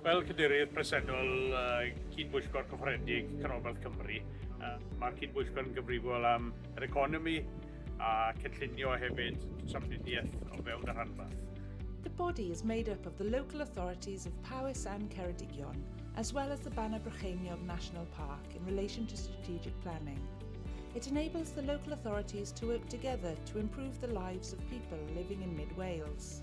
Fel cadeirydd presennol cyd-bwyllgor cyffrededig Canolbarth Cymru, mae'r cyd-bwyllgor yn gyfrifol am yr economi a cynllunio hefyd trafnidiaeth o fewn y rhanbarth. The body is made up of the local authorities of Powys and Ceredigion, as well as the Baner Brycheiniog National Park in relation to strategic planning. It enables the local authorities to work together to improve the lives of people living in mid-Wales.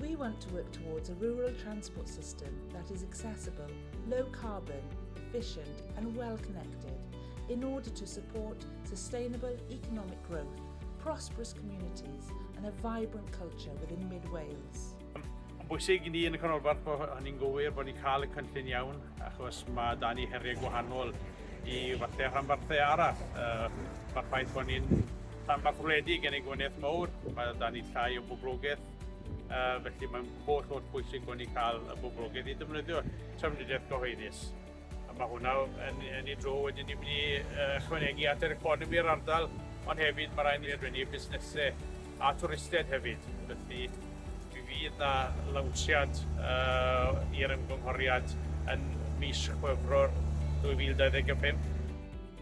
We want to work towards a rural transport system that is accessible, low carbon, efficient and well connected in order to support sustainable economic growth, prosperous communities and a vibrant culture within Mid Wales. Mae'n bwysig i ni yn y canolbarth bod hynny'n gywir, bod ni'n cael y cynllun iawn, achos mae da ni heriau gwahanol i fathau rhanbarthau arall. Uh, Mae'r ffaith bod ni'n rhanbarth wledig yn ei gwneud mawr, mae da ni llai o boblogaeth Uh, felly mae'n holl holl bwysig bod ni cael y boblogaeth i ddefnyddio trafnidiaeth gyhoeddus. A mae hwnna yn, yn ei dro wedyn ni'n mynd i uh, chwanegu at yr economi yr ardal, ond hefyd mae rhaid ni adwennu busnesau a twristiaid hefyd. Felly fi fydd na lawnsiad uh, i'r ymgynghoriad yn mis Chwefror 2025.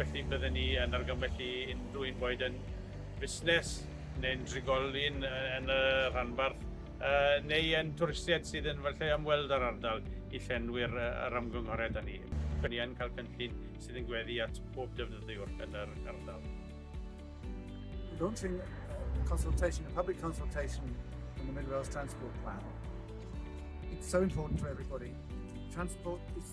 Felly bydden ni yn argymell i unrhyw un boed yn fusnes neu'n drigolyn yn y rhanbarth neu yn twristiaid sydd yn fy lle ymweld â'r ardal i llenwi'r yr ymgynghoriad â ni. Rydyn ni yn cael cynllun sydd yn gweddu at bob defnyddiwr yn yr ardal. Launching a consultation, a public consultation on the Mid Wales Transport Plan. It's so important to everybody. Transport is